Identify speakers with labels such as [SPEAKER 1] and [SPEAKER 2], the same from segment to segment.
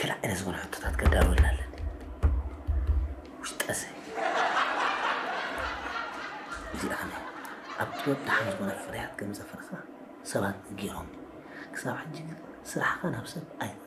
[SPEAKER 1] ገለ ዓይነት ዝኾነ ሕቶታት ከዳልወልና ኣለኒ ውሽጠሰ እዚኣ ከመይ ኣብ ጥበብ ደሓን ዝኾነ ፍርያት ከም ዘፍርኻ ሰባት ገይሮም ክሳብ ሕጂ ግን ስራሕኻ ናብ ሰብ ኣይተ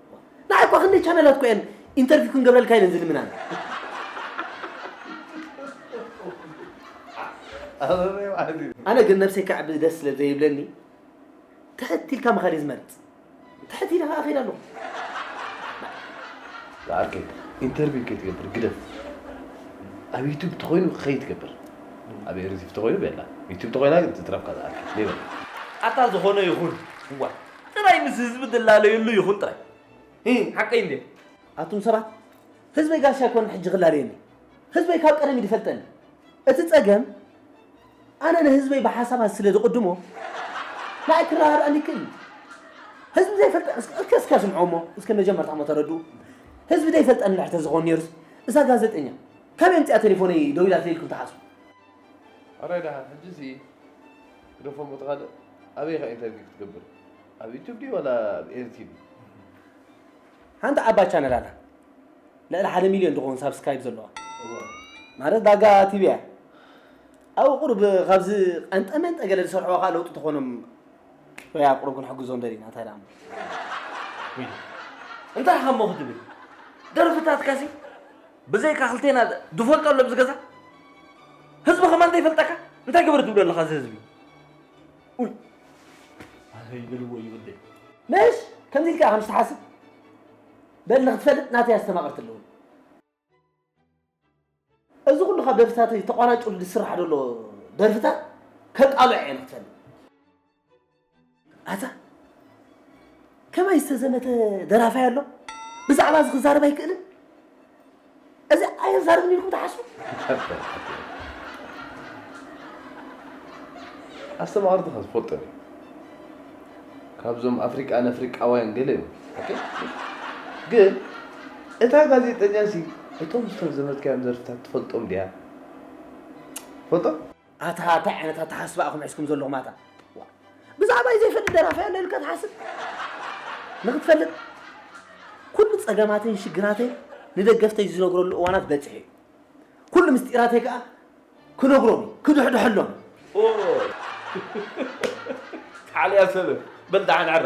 [SPEAKER 1] ንዓይ እኳ ክንደይ ቻነላት እኮ እየን ኢንተርቪው ክንገብረልካ ኢለን ዝልምናን ኣነ ግን ነብሰይ ከዕቢ ደስ ስለ ዘይብለኒ ትሕት ኢልካ ምኻድ እየ ዝመርፅ ትሕት ኢለ ከዓ እኸይድ ኣለኹ
[SPEAKER 2] ዝዓርከ ኢንተርቪው ከይትገብር ግደፍ ኣብ ዩቱብ ተኮይኑ ከይ ትገብር ኣብ ኤሪቲቭ ተኮይኑ በላ ዩቱብ ተኮይና ግን ትትረፍካ ዝዓርከ ሌበል ኣታ ዝኾነ
[SPEAKER 3] ይኹን እዋ ጥራይ ምስ ህዝቢ ትላለየሉ ይኹን ጥራይ እ ሓቀይ እንዴ ኣቱም ሰባት
[SPEAKER 1] ህዝበይ ጋሻ ኣይኮነ ሕጂ ክላለየኒ ህዝበይ ካብ ቀደም ይፈልጠኒ እቲ ጸገም ኣነ ንህዝበይ ብሓሳባት ስለ ዝቕድሞ ንኣይ ክረዳድኣኒ ይክእል እዩ ህዝቢ ዘይፈልጠ እስከ እስከ ስምዖ እሞ እስከ መጀመርታ እሞ ተረድኡ ህዝቢ ዘይፈልጠኒ ድሕር ተዝኾን ነይሩስ እዛ ጋዜጠኛ ከመይ ምፅኣ ቴሌፎነይ ደው ኢላ ተይልኩም ትሓስቡ ኣራይ
[SPEAKER 2] ደሓን ሕጂ ሲ ግደፎ እሞ እቲ ካልእ ኣበይ ኢኻ ኢንተርቪው ክትገብር ኣብ ዩቱብ ድዩ ዋላ ኣብ ኤሪ ቲቪ
[SPEAKER 1] ሓንቲ ዓባይ ቻነል ኣላ ልዕሊ ሓደ ሚልዮን ዝኸውን ሳብስክራይብ ዘለዋ ማለት ዳጋ ቲቪ እያ ኣብኡ ቁርብ ካብዚ ቀንጠመን ጠገለ ዝሰርሕዎ ከዓ ለውጢ ተኾኖም ወይ ኣብ ቁርብ ክንሕግዞም ደሊና እንታይ ደኣ
[SPEAKER 3] እንታይ ሓሞ ክትብል ደርፍታትካሲ ብዘይካ ክልቴና ዝፈልጦ ኣሎ ኣብዚ ገዛ ህዝቢ ከማን ዘይፈልጠካ እንታይ ግበር ትብሎ ኣለካ እዚ ህዝቢ ኡይ ኣበይ በልዎ ይወደይ መሽ
[SPEAKER 1] ከምዚ ኢልካ ከም ዝትሓስብ በል ንክትፈልጥ ናተይ ኣስተማቅርቲ ኣለዎ እዚ ኩሉ ካብ ደርፍታተይ ተቋራጭ ዝስራሕ ዘሎ ደርፍታት ከቃልዖ እየ ንክትፈልጥ ኣታ ከመይ ዝተዘመተ ደራፋይ ኣሎ ብዛዕባ እዚ ክዛረብ ኣይክእልን እዚ ኣየዛርብን ኢልኩም ትሓስቡ
[SPEAKER 2] ኣስተማቕርትኻ ዝፈልጦ እዩ ካብዞም ኣፍሪቃ ነፍሪቃውያን ገለ እዮም ግን እታ ጋዜጠኛ ሲ እቶም ዝተዘመትካዮም ዘርፍታት ትፈልጦም ድያ ትፈልጦም ኣታ
[SPEAKER 1] እንታይ ዓይነት ኣተሓስባ ኢኹም ሒዝኩም ዘለኹም ኣታ ዋ፣ ብዛዕባይ ዘይፈልጥ ደራፋይ ኣሎ ኢልካ ትሓስብ ንክትፈልጥ ኩሉ ጸገማተይን ሽግራተይን ንደገፍተይ ዝነግረሉ እዋናት በጺሑ እዩ ኩሉ ምስጢራተይ ከዓ ክነግሮም እዩ ክድሕድሐሎም እዩ ኦ፣
[SPEAKER 3] ተዓልያ ሰበብ በል ደሓን ዕረ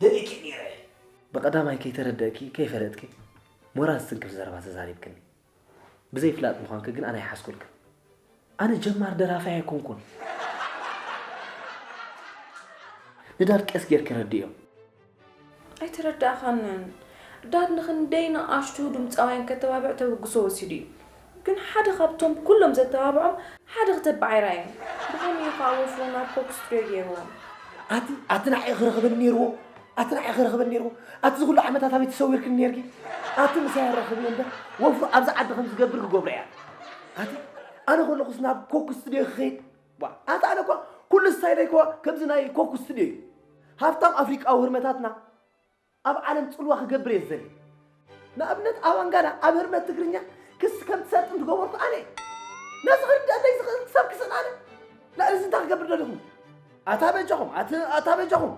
[SPEAKER 1] ደሊኪ ኔረ እየ። ብቀዳማይ ከይተረደእኪ ከይፈለጥኪ ሞራል ዝትንክፍ ዘረባ ተዛሪብክኒ። ብዘይ ፍላጥ ምዃንኪ ግን ኣነ ኣይሓዝኩልክን። ኣነ ጀማሪ ደራፋይ ኣይኮንኩን። ንዳድ ቀስ ጌርኪ ረድእዮ።
[SPEAKER 4] ኣይተረዳእኻንን። ዳድ ንኽንደይ ንኣሽቱ ድምጻውያን ከተባብዕ ተበግሶ ወሲዱ እዩ። ግን ሓደ ካብቶም ኩሎም ዘተባብዖም ሓደ ክተባዕ ኣይረኣየን። ብኸመይ እዩ ኸኣ ወፍሩ ናብ ኮክ ስቱድዮ ገይርዎም? ኣቲ ኣቲ
[SPEAKER 1] ንዓይ ክረኽበኒ ነይርዎ ኣቲ ንዓይ ክረኽበኒ ነይርዎ ኣቲ እዚ ኩሉ ዓመታት ኣበይ ተሰዊርክኒ ነይርኪ ኣቲ ምሳይ ኣራኽብ እየ እምበር ወፍሩ ኣብዚ ዓዲ ከም ዝገብር ክገብሮ እያ ኣቲ ኣነ ከለኹስ ናብ ኮክ ስቱድዮ ክኸይድ ዋ ኣቲ ኣነ እኳ ኩሉ ስታይለይ እኳ ከምዚ ናይ ኮክ ስቱድዮ እዩ ሃብታም ኣፍሪቃዊ ህርመታትና ኣብ ዓለም ጽልዋ ክገብር እየ ዝደሊ ንኣብነት ኣብ ኣንጋና ኣብ ህርመት ትግርኛ ክሲ ከም ትሰርጥ እንትገበርኩ ኣነ ነዚ ክርዳእ ዘይዝኽእል ክሳብ ክስእን ኣነ ልዕሊ እዚ እንታይ ክገብር ደሊኹም ኣታ በጃኹም ኣታ በጃኹም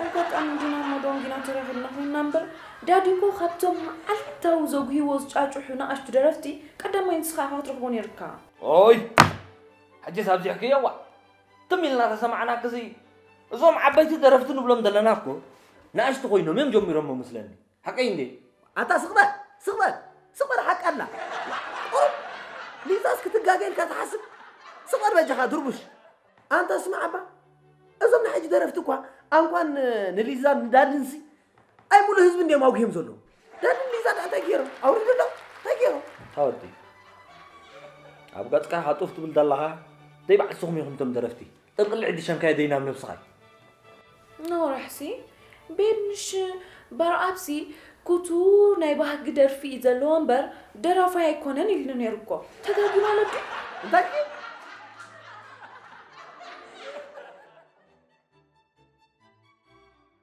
[SPEAKER 1] ኣጋጣሚ
[SPEAKER 4] ግና መዶን ግና ተራኺብና ኮይንና እምበር ዳዲ እኮ ካብቶም መዓልታዊ ዘጉህዎ ዝጫጩሑ ንኣሽቱ ደረፍቲ ቀዳማይ ንስኻ ኢኻ ክትረኽቦ ነይርካ ኦይ
[SPEAKER 3] ሕጂስ ኣብዚሕክዮ ዋ ትም ኢልና ተሰማዕና ክዚ እዞም ዓበይቲ ደረፍቲ ንብሎም ዘለና እኮ ንኣሽቱ ኮይኖም እዮም ጀሚሮሞ መስለኒ ሓቀይ እንዴ ኣታ ስቕ በል
[SPEAKER 1] ስቕ በል ስቕ በል ሓቂ ኣላ ቁሩብ ሊዛስ ክትጋገ ኢልካ ትሓስብ ስቕ በል በጃኻ ድርቡሽ ኣንታ ስማዕ ኣባ እዞም ናይ ሕጂ ደረፍቲ እኳ ኣንኳን ንሊዛን ንዳድንሲ ኣይ ሙሉ ህዝቢ እንዲኦም ኣውጊዮም ዘለዉ ዳኒ ሊዛ ድኣ እንታይ ገይሮም ኣውሪዱ ኣሎ እንታይ ገይሮም ታወዲ
[SPEAKER 3] ኣብ ገጽካ ሃጡፍ ትብል ዘለኻ ደይ ባዕልስኹም ኢኹም እቶም ደረፍቲ ጠንቅሊ ዕዲ ሸንካየ ደይ ናብ ነብስኻ
[SPEAKER 4] ነውራሕሲ ቤት ምሽ በርኣብሲ ኩቱ ናይ ባህጊ ደርፊ እዩ ዘለዎ እምበር ደራፋይ ኣይኮነን ኢልኒ ነይሩ እኮ ተጋጊ ማለት እዩ እንታይ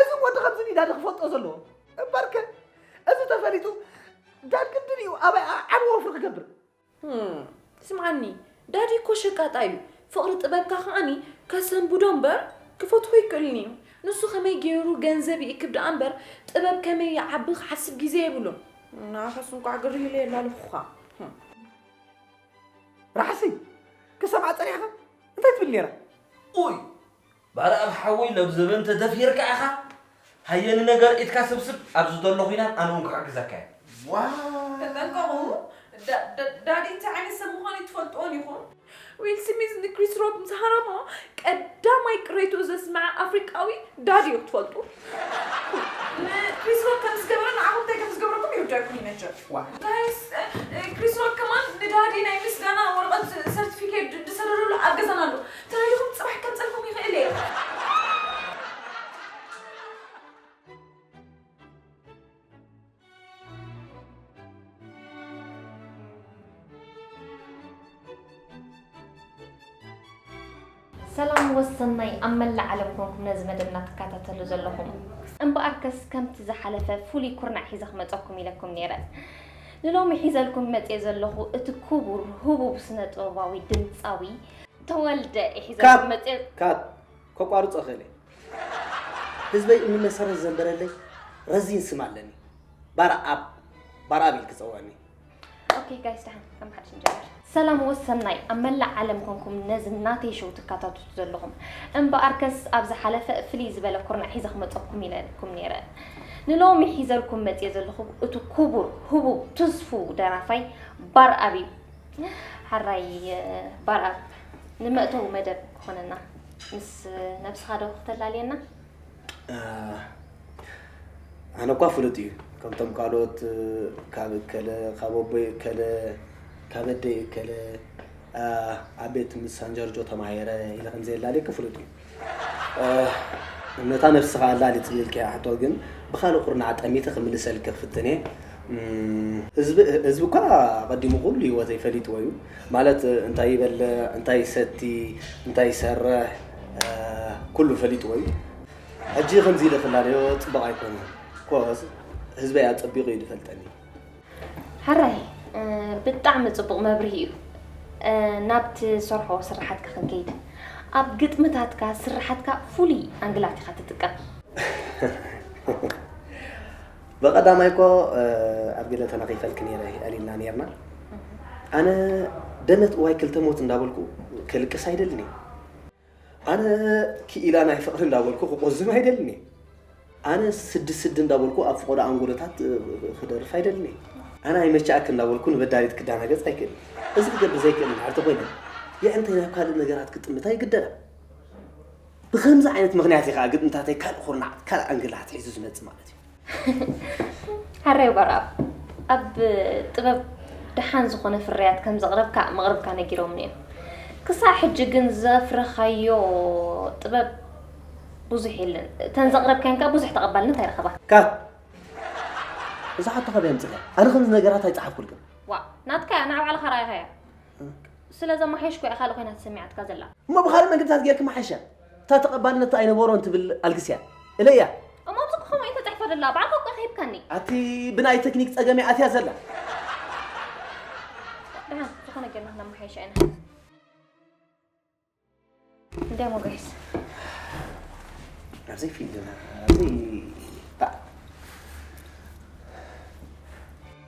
[SPEAKER 1] እዚ ወዲ ከምዚ ኒዳዲ ክፈልጦ ዘለዎ እምበርከ እዚ ተፈሊጡ ዳድ ግድን እዩ ኣባይ ዓቢ ወፍሪ ክገብር
[SPEAKER 4] ስምዓኒ ዳዲ እኮ ሸቃጣ እዩ ፍቕሪ ጥበብካ ከዓኒ ከሰንብዶ እምበር ክፈትሖ ኣይክእልን እዩ ንሱ ከመይ ገይሩ ገንዘብ ይእክብ ደኣ እምበር ጥበብ ከመይ ይዓቢ ክሓስብ ግዜ የብሉን ንዓኻስ እንቋዕ ግርህ ኢለ የላለኹኻ
[SPEAKER 1] ራሕሲ ክሰምዓ ጸኒሕኻ እንታይ ትብል ነይራ ኡይ
[SPEAKER 3] ባርኣብ ሓወይ ሎብ ዘበን ተደፊርካ ኢኻ ሃየ ንነገር ኢድካ ስብስብ ኣብዚ ዘሎ ኹናት ኣነ ውን ክሕግዘካ እየ ዋው።
[SPEAKER 1] ተጠንቀቑ
[SPEAKER 4] ዳዲ እንታይ ዓይነት ሰብ ምዃኑ ኣይትፈልጥዎን ኢኹም። ዊል ስሚዝ ንክሪስ ሮክ ምስ ሃረሞ ቀዳማይ ቅሬትኡ ዘስመዐ ኣፍሪቃዊ ዳዲ እዩ ክትፈልጡ። ንክሪስ ሮክ ከም ዝገበረ ንዓኹም እንታይ ከም ዝገብረኩም ይርደኣኩም እዩ መቸም። ጋይስ ክሪስ ሮክ ከማን ንዳዲ ናይ ምስጋና ወረቀት ሰርትፊኬት ዝሰደደሉ ኣብ ገዛና ኣሎ ተራኢኹም ጽባሕ
[SPEAKER 5] ክቀንጸልኩም ይኽእል እየ። ሰላም ወሰናይ ኣብ መላእ ዓለም ኮንኩም ነዚ መደብና ትከታተሉ ዘለኹም እምበኣርከስ ከምቲ ዝሓለፈ ፍሉይ ኩርናዕ ሒዘ ክመፀኩም ኢለኩም ነይረ ንሎሚ ሒዘልኩም መፅኤ ዘለኹ እቲ ክቡር ህቡብ ስነ ጥበባዊ ድምፃዊ ተወልደ ሒዘ መፅ ካብ
[SPEAKER 1] ከቋርፆ ክእል ህዝበይ እኒ መሰረት ዘንበረለይ ረዚን ስም ኣለኒ ባርኣብ ባርኣብ ኢል ክፀውዕኒ ኦኬ ጋይስ
[SPEAKER 5] ዳሓን ከም ሓድሽ ንጀምር ሰላም ወሰናይ ኣብ መላእ ዓለም ኮንኩም ነዚ ናተይ ሸው ትከታተሉ ዘለኹም እምበኣርከስ ኣብ ዝሓለፈ ፍልይ ዝበለ ኩርናዕ ሒዘ ክመፀኩም ኢለኩም ነይረ ንሎሚ ሒዘልኩም መፅየ ዘለኹ እቲ ክቡር ህቡብ ትስፉው ደራፋይ ባርኣብ እዩ ሐራይ ባርኣብ ንመእተዊ መደብ ክኾነና ምስ ነብስኻ ዶ ክተላልየና?
[SPEAKER 1] ኣነ እኳ ፍሉጥ እዩ ከምቶም ካልኦት ካብ እከለ ካብ ኣቦይ እከለ ካብ ኣደይ እከለ ኣብ ቤት ምስ ኣንጀርጆ ተማሂረ ኢለ ከምዘየላልየኪ ፍሉጥ እዩ። ነታ ነብስኻ ኣላሊትኒ ኢልካያ ሕቶ ግን ብኻልእ ኩርናዕ ጠሚተ ክምልሰልኪ ክፍትን እየ። ህዝቢ ህዝቢ እኳ ኣቐዲሙ ኩሉ ህይወተይ ፈሊጥዎ እዩ። ማለት እንታይ ይበልዕ፣ እንታይ ይሰቲ፣ እንታይ ይሰርሕ ኩሉ ፈሊጥዎ እዩ። ሕጂ ከምዚ ኢለ ክላለዮ ጽቡቕ ኣይኮነን። ኮዝ ህዝበይ ኣጸቢቑ እዩ ዝፈልጠኒ።
[SPEAKER 5] ሕራይ ብጣዕሚ ጽቡቕ መብርሂ እዩ። ናብቲ ዝሰርሖ ስርሓትካ ክንከይድ፣ ኣብ ግጥምታትካ ስርሓትካ ፍሉይ ኣንግላት ኢኻ ትጥቀም።
[SPEAKER 1] ብቐዳማይ እኮ ኣብ ገለ ተነቒፈልኪ ነይረ ኣሊና ነይርና። ኣነ ደመት እዋይ ክልተ ሞት እንዳበልኩ ከልቅስ ኣይደልን እየ። ኣነ ክኢላ ናይ ፍቕሪ እንዳበልኩ ክቆዝም ኣይደልን እየ። ኣነ ስዲ ስዲ እንዳበልኩ ኣብ ፍቖዶ ኣንጎሎታት ክደርፍ ኣይደልን እየ። ኣነ ኣይመቸኣክ እንዳበልኩ ንበዳሊት ክዳናገጽ ኣይክእልን። እዚ ክገብር ዘይክእል እንድሕር ተኾይነ የዕንተይ ናብ ካልእ ነገራት ክጥምታ ይግደዳ። ብከምዚ ዓይነት ምክንያት እዩ ከዓ ግጥምታተይ ካልእ ኩርናዕ ካልእ ኣንግል ኣትሒዙ ዝመጽእ ማለት እዩ።
[SPEAKER 5] ሕራይ በራብ ኣብ ጥበብ ደሓን ዝኾነ ፍርያት ከም ዘቕረብካ መቕርብካ ነጊሮምኒ እዮም ክሳዕ ሕጂ ግን ዘፍረኻዮ ጥበብ ብዙሕ የለን እተን ዘቕረብካን ከዓ ብዙሕ ተቐባልነት ኣይረኸባ ካት
[SPEAKER 1] እዛ ሓቶ ካበይ ኣምፅእያ ኣነ ከምዚ ነገራት ኣይፀሓፍኩልክን ዋ ናትካ እያ
[SPEAKER 5] ንዓ ባዕልኻ ረኣይኻያ ስለ ዘመሓየሽኩ እያ ካልእ ኮይና ተሰሚዓትካ ዘላ እሞ ብካልእ መግብታት
[SPEAKER 1] ጌርክ መሓሻ እታ ተቐባልነት ኣይነበሮን ትብል ኣልግስ እያ እለ እያ እሞ ኣብቲ ክኸውን
[SPEAKER 5] እዩ ተፃሒፎ ደላ በዓልካ እኮ ከሂብካኒ ኣቲ ብናይ
[SPEAKER 1] ቴክኒክ ፀገም እያ ኣትያ ዘላ
[SPEAKER 5] ደሓን ዝኾነ ጌርና ክነመሓይሻ ኢና እንታይ እሞ ጋይስ
[SPEAKER 1] ናብዘይ ፊልም ናብዘይ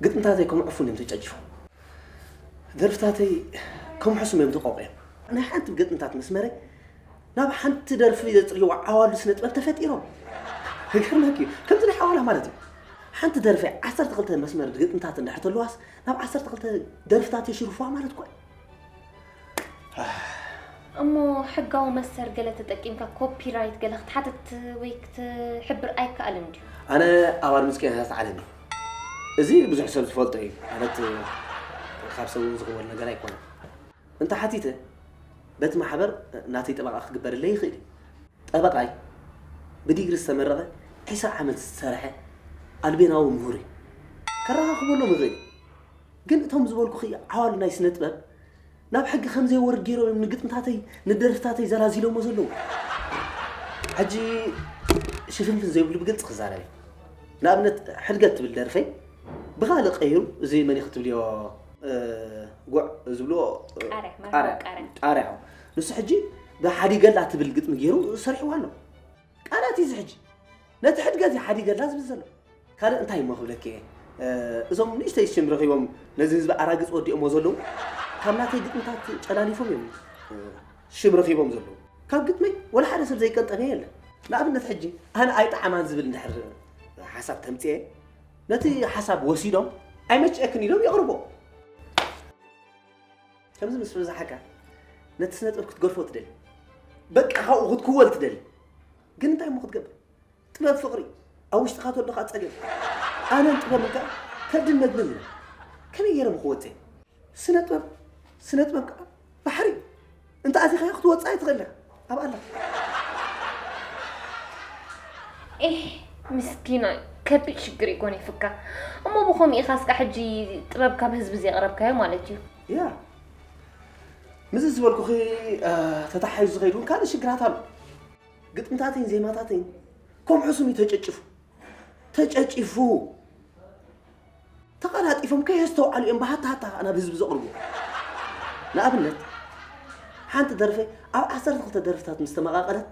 [SPEAKER 1] ግጥምታተይ ከም ዕፉን እዮም ተጨጭፎም፣ ደርፍታተይ ከም ሕሱም እዮም ተቆቂዮም። ናይ ሓንቲ ግጥምታት መስመረይ ናብ ሓንቲ ደርፊ ዘጽርይዋ ዓዋሉ ስነ ጥበብ ተፈጢሮም። ይገርመኪ እዩ ከምዚ ናይ ሓዋላ ማለት እዩ። ሓንቲ ደርፊ ዓሰርተ ክልተ መስመር ግጥምታት እንድሕር ተለዋስ ናብ ዓሰርተ ክልተ ደርፍታት የሽርፍዋ ማለት እኮ እዩ።
[SPEAKER 5] እሞ ሕጋዊ መሰር ገለ ተጠቂምካ ኮፒራይት ገለ ክትሓትት ወይ ክትሕብር ኣይከኣልን ድዩ? ኣነ ኣብ ኣድምጽ
[SPEAKER 1] ቄንሳት ዓለም እዩ እዚ ብዙሕ ሰብ ዝፈልጦ እዩ ማለት ካብ ሰብ እውን ዝኽወል ነገር ኣይኮነን እንተ ሓቲተ በቲ ማሕበር ናተይ ጠበቃ ክግበረለይ ይኽእል እዩ ጠበቃይ ብዲግሪ ዝተመረቐ ዒስራ ዓመት ዝሰርሐ ኣልቤናዊ ምሁር እዩ ከረኻኽበሎም ይኽእል ግን እቶም ዝበልኩኺ ዓዋሉ ናይ ስነ ጥበብ ናብ ሕጊ ከም ዘይወርድ ገይሮም እዮም ንግጥምታተይ ንደርፍታተይ ዘላዚሎሞ ዘለዉ ሕጂ ሽፍንፍን ዘይብሉ ብግልፂ ክዛረብ እዩ ንኣብነት ሕድገት ትብል ደርፈይ ብካልእ ቀይሩ እዚ መን እዩ ክትብልዮ ጉዕ ዝብልዎ ቃርያ ቃርያ ንሱ ሕጂ ብሓዲገላ ትብል ግጥሚ ገይሩ ሰሪሕዋ ኣሎ ቃላት እዩ ዝሕጂ ነቲ ሕድገት እዩ ሓዲገላ ዝብል ዘሎ ካልእ እንታይ እሞ ክብለኪ እየ እዞም ንእሽተይ ሽም ረኺቦም ነዚ ህዝቢ ኣራግፅ ወዲኦሞ ዘለዉ ካብ ናተይ ግጥምታት ጨላሊፎም እዮም ሽም ረኺቦም ዘለዉ ካብ ግጥመይ ወላ ሓደ ሰብ ዘይቀንጠበ የለን ንኣብነት ሕጂ ኣነ ኣይጠዓማን ዝብል እንድሕር ሓሳብ ተምፅኤ ነቲ ሓሳብ ወሲዶም ኣይመችኤክን ኢሎም የቕርቦ ከምዚ ምስ በዛሓካ ነቲ ስነ ጥበብ ክትገርፎ ትደሊ በቃ ካብኡ ክትክወል ትደሊ ግን እንታይ እሞ ክትገብር ጥበብ ፍቅሪ ኣብ ውሽጥካ ተሎ ከዓ ፀገም ኣነን ጥበብ ከዓ ከብድን መግብን እዩ ከመይ ገይረ ብክወፀ ስነ ጥበብ ስነ ጥበብ ከዓ ባሕሪ እዩ እንተኣቲኻዮ ክትወጽእ ኣይትኽእል ኢኻ ኣብኣ ኣለኻ
[SPEAKER 5] ኤህ ምስኪናይ ከቢድ ሽግር እዩ ጎኒፍካ እሞ ብኸምኡ ኢኻ እስካ ሕጂ ጥበብ ካብ ህዝቢ ዘቕረብካዮ ማለት እዩ ያ
[SPEAKER 1] ምስዚ ዝበልኩኺ ተታሓሒዙ ዝኸይድ እውን ካልእ ሽግራት ኣሎ ግጥምታተይን ዜማታተይን ከምዑ ስም እዩ ተጨጭፉ ተጨጭፉ ተቐላጢፎም ከየስተውዓሉ እዮም ብሃታሃታ ከኣ ናብ ህዝቢ ዘቕርቡ። ንኣብነት ሓንቲ ደርፈይ ኣብ ዓሰርተ ክልተ ደርፍታት ምስ ተመቓቐለት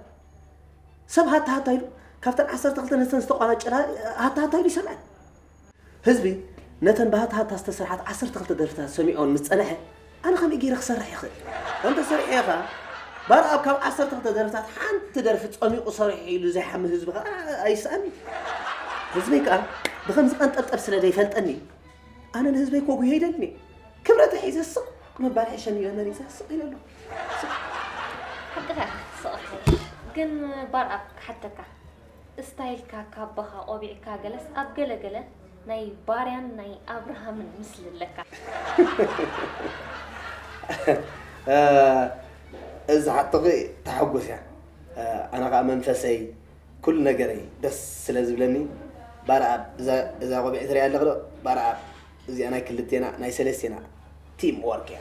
[SPEAKER 1] ሰብ ሃታሃታ ኢሉ ካብተን ዓሰርተ ክልተ ነተን ዝተቋናጨላ ሃታሃታ ኢሉ ይሰምዐ። ህዝቢ ነተን ብሃታሃታ ዝተሰርሓት ዓሰርተ ክልተ ደርፍታት ሰሚዖን ምስ ጸንሐ ኣነ ከመይ ገይረ ክሰርሕ ይኽእል? እንተ ሰሪሐዮ ከኣ ባርኣብ ካብ ዓሰርተ ክልተ ደርፍታት ሓንቲ ደርፊ ጸሚቑ ሰሪሑ ኢሉ ዘይሓሚ ህዝቢ ከኣ ኣይስኣንን። ህዝበይ ከኣ ብኸም ዝቐንጠብጠብ ስለ ዘይፈልጠኒ ኣነ ንህዝበይ ከጉህዮ ይደልን እየ። ክብረተ ሒዘ ስቕ ምባል ሕሸኒ ኢለ መሪጸ ስቕ ኢለ ኣለኹ። ሓቅኻ ኢኻ
[SPEAKER 5] ክትስቕ ትሓይሽ። ግን ባርኣብ ክሓተካ እስታይልካ ካባኻ ቆቢዕካ ገለስ ኣብ ገለ ገለ ናይ
[SPEAKER 1] ባርያን ናይ ኣብርሃምን ምስሊ ኣለካ። እዝ ሓቶኺ ተሓጎስ እያ ኣነ ኸኣ መንፈሰይ ኩሉ ነገረይ ደስ ስለ ዝብለኒ ባርኣብ እዛ ቆቢዕ ትሪኣ ኣለኺ ዶ ባርኣብ እዚኣ ናይ ክልቴና ናይ ሰለስቴና ቲም ወርቅ እያ።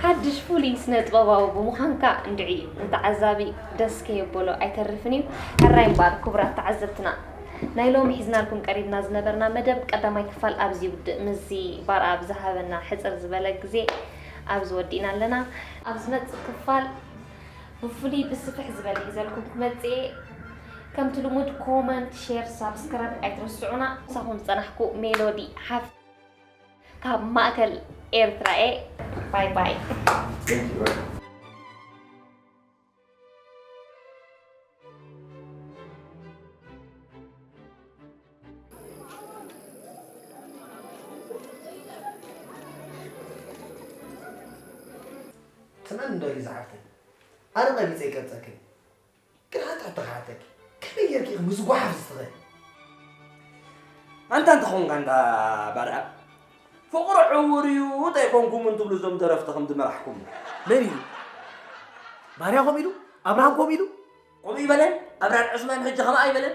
[SPEAKER 5] ሓድሽ ፍሉይ ስነጥበባዊ ብምዃንካ እንድዒ ንተዓዛቢ ደስ ከየበሎ ኣይተርፍን እዩ። ሕራይ እምበኣር ክቡራት ተዓዘብትና ናይ ሎሚ ሒዝናልኩም ቀሪብና ዝነበርና መደብ ቀዳማይ ክፋል ኣብዚ ይውድእ። ምስዚ ባርኣብ ዝሃበና ሕጽር ዝበለ ግዜ ኣብዚ ወዲእና ኣለና። ኣብ ዝመጽእ ክፋል ብፍሉይ ብስፍሕ ዝበለ ሒዘልኩም ክመጽእ እየ ከምቲ ልሙድ ኮመንት ሼር ሳብስክራይብ ኣይትረስዑና ምሳኹም ዝጸናሕኩ ሜሎዲ ሓፍ ካብ ማእከል ኤርትራ እየ ባይ ባይ
[SPEAKER 1] ትመን ዶ እዩ ዝሓፍተይ ኣነ ቀቢፀ ይቀብፀክን ግን ሓንቲ ሕቶ ክሓተኪ ከመይ ጌርኪ ኢኺ ምስ ጓሓፍ ዝትኽእል
[SPEAKER 3] ኣንታ እንተኾንካ እንዳ ባርያ ፍቕሪ ዕውር እዩ እንተይኮንኩም እንትብሉ እዞም ደረፍቲ ከም ዝመራሕኩም መን እዩ
[SPEAKER 1] ባርያ ከምኡ ኢሉ ኣብርሃም ከምኡ ኢሉ ከምኡ ይበለን
[SPEAKER 3] ኣብርሃም ዕስማን ሕጂ ከምኣ ይበለን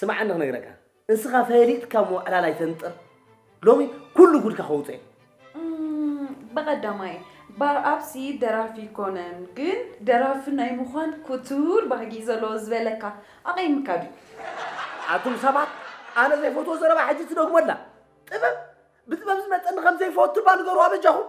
[SPEAKER 1] ስምዓኒ ክነግረካ እንስኻ ፈሊጥካ ምውዕላል ኣይተንጥር ሎሚ ኩሉ ጉድካ ከውፅእ በቐዳማይ
[SPEAKER 4] ባርኣብሲ ደራፊ ይኮነን ግን ደራፊ ናይ ምዃን ኩቱር ባህጊ እዩ ዘለዎ ዝበለካ ኣቐይምካ ድዩ ኣቱም
[SPEAKER 1] ሰባት ኣነ ዘይፈትዎ ዘረባ ሕጂ ትደግሞ ኣላ ጥበብ ብጥበብ ዝመፀኒ ከም ዘይፈቱ እባ ንገርዋ በጃኹም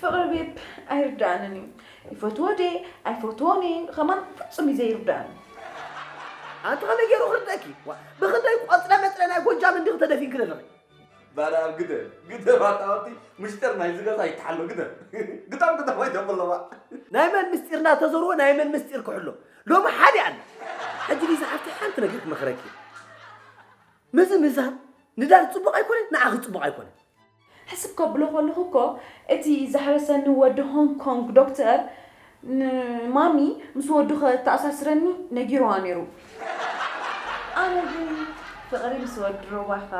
[SPEAKER 1] ፍቅሪ ቤብ
[SPEAKER 4] ኣይርድኣንን እዩ ይፈትዎ ድየ ኣይፈትዎን እየ ከማን ፍፁም እዩ ዘይርድኣኒ
[SPEAKER 1] ኣንቲ ከመይ ገይሩ ክርደእኪ ዋ፣ ብክንደይ ቆፅለ መፅለ ናይ ጎጃም እንዲኺ ተደፊንኪ ዘለኺ ባዳ ኣብ ግደ
[SPEAKER 3] ግደ ባታወቲ ምሽጥር ናይ ዝገዛ ይተሓሎ ግደ ግጠም ግጠም ኣይተብለዋ ናይ መን ምስጢር
[SPEAKER 1] እናተዘርዎ ናይ መን ምስጢር ክሕሎ ሎሚ ሓደ ኣለ ሕጂ ሊዛ ሓፍቲ ሓንቲ ነገር ክመኽረኪ ምዝምዛም ንዳር ፅቡቕ ኣይኮነን ንዓኺ ፅቡቕ ኣይኮነን ሕስብ ከብሎ
[SPEAKER 4] ከለኹ እኮ እቲ ዘሕረሰኒ ወዲ ሆንግ ኮንግ ዶክተር ንማሚ ምስ ወዱ ከተኣሳስረኒ ነጊሩዋ ነይሩ። ኣነ ግን ፍቕሪ ምስ ወዲ ሮባኻ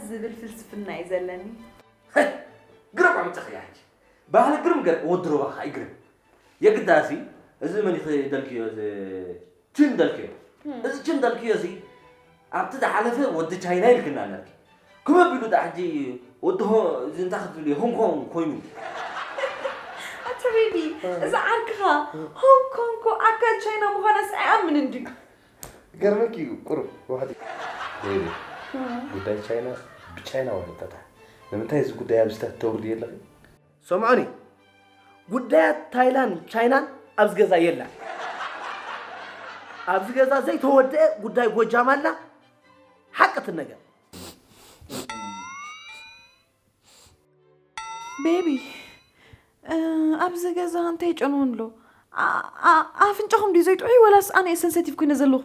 [SPEAKER 4] ዝብል ፍልስፍና እዩ ዘለኒ። ሀይ
[SPEAKER 3] ግርም ዕምጽኺ ኣንቺ ባህሊ ግርም ገር ወዲ ሮባኻ ይግርም የግዳሲ እዚ መን እዩ ክደልክዮ እዚ ችን በልክዮ እዚ ችን በልክዮ እዚ ኣብቲ ዝሓለፈ ወዲ ቻይና ኢልክና ነርኪ ክበብ ቢሉ ዳኣ ሕጂ ወዲ ሆ እዚ እንታይ ክትብልዮ ሆንኮን ኮይኑ ኣቲ
[SPEAKER 4] ሬዲ እዚ ዓርክኻ ሆንግ ኮንኮ ኣካል ቻይና ምዃናስ ኣይኣምንን ድዩ ገርመኪ
[SPEAKER 2] እዩ ቁሩብ ዋሕዲ ሬዲ ጉዳይ ቻይና ብቻይና ወረጠታ ንምንታይ እዚ ጉዳይ ኣብዚታት ተውርድዮ ኣለኺ ሰምዑኒ
[SPEAKER 1] ጉዳያት ታይላን ቻይናን ኣብዚ ገዛ የላን ኣብዚ ገዛ ዘይተወደአ ጉዳይ ጎጃም ኣላ ሓቂ ትነገር
[SPEAKER 4] ቤቢ ኣብዚ ገዛ እንታይ ጨንዎ ኣሎ ኣፍንጫኹም ድዩ ዘይጥዑይ ወላስ ኣነ እየ ሰንሰቲቭ ኮይነ ዘለኹ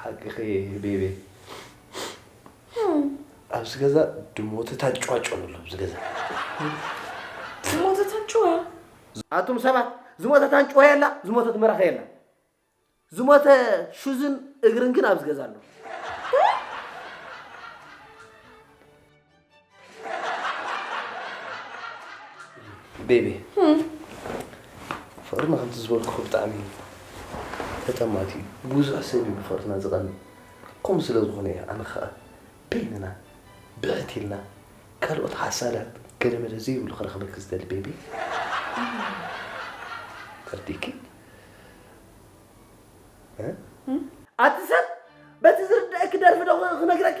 [SPEAKER 2] ሓቅኺ ቤቤ ኣብዚ ገዛ ድሞትታት ጫጮ ኣሎ ኣብዚ ገዛ
[SPEAKER 4] ዝሞተታን ጭወ ኣቱም
[SPEAKER 1] ሰባት ዝሞተት ኣንጭዋ የላ ዝሞተት መራኸ የላ ዝሞተ ሹዝን እግርን ግን ኣብዚ ገዛ ኣሎ
[SPEAKER 2] ቤቢ ፍቅርና ከምቲ ዝበልኩ ብጣዕሚ ተጠማቲ እዩ ብዙሕ ሰብ እዩ ብፍቅርና ዝቐኒ ከምኡ ስለ ዝኾነ እዩ ኣነ ከዓ በይንና ብሕት ኢልና ካልኦት ሓሳዳት ገለ መለ ዘይብሉ ክረኽበኪ ዝደሊ ቤቢ ተርዲኪ ኣቲ
[SPEAKER 1] ሰብ በቲ ዝርድአኪ ደርፊ ዶ ክነግረኪ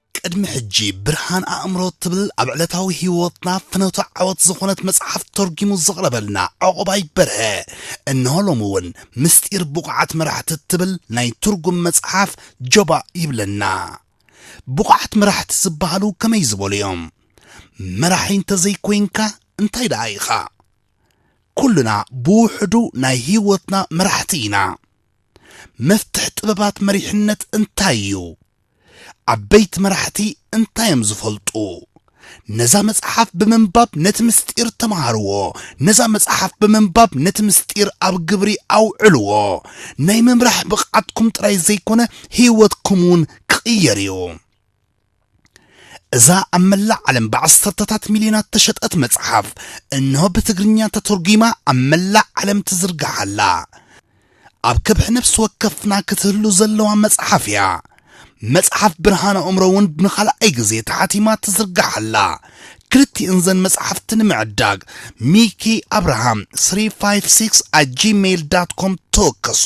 [SPEAKER 6] ቅድሚ ሕጂ ብርሃን ኣእምሮ ትብል ኣብ ዕለታዊ ህይወትና ፍኖተ ዓወት ዝኾነት መጽሓፍ ተርጊሙ ዘቕረበልና ዕቑባይ በርሀ እነሆ ሎሚ እውን ምስጢር ብቑዓት መራሕቲ ትብል ናይ ትርጉም መጽሓፍ ጀባ ይብለና። ብቑዓት መራሕቲ ዝበሃሉ ከመይ ዝበሉ እዮም? መራሒ እንተዘይኮይንካ እንታይ ደኣ ኢኻ? ኩልና ብውሕዱ ናይ ህይወትና መራሕቲ ኢና። መፍትሕ ጥበባት መሪሕነት እንታይ እዩ? ዓበይቲ መራሕቲ እንታይ እዮም ዝፈልጡ? ነዛ መጽሓፍ ብምንባብ ነቲ ምስጢር ተምሃርዎ። ነዛ መጽሓፍ ብምንባብ ነቲ ምስጢር ኣብ ግብሪ ኣውዕልዎ። ናይ ምምራሕ ብቕዓትኩም ጥራይ ዘይኮነ ህይወትኩም እውን ክቕየር እዩ። እዛ ኣብ መላእ ዓለም ብዓሰርተታት ሚልዮናት ተሸጠት መጽሓፍ እንሆ ብትግርኛ ተተርጒማ ኣብ መላእ ዓለም ትዝርጋሕ ኣላ። ኣብ ከብሒ ነፍሲ ወከፍና ክትህሉ ዘለዋ መጽሓፍ እያ መጽሓፍ ብርሃን ኣእምሮ እውን ንኻልኣይ ግዜ ተሓቲማ ትዝርጋሕ ኣላ ክልቲእን ዘን መጽሓፍቲ ንምዕዳግ ሚኪ ኣብርሃም 356 a gmail com ተወከሱ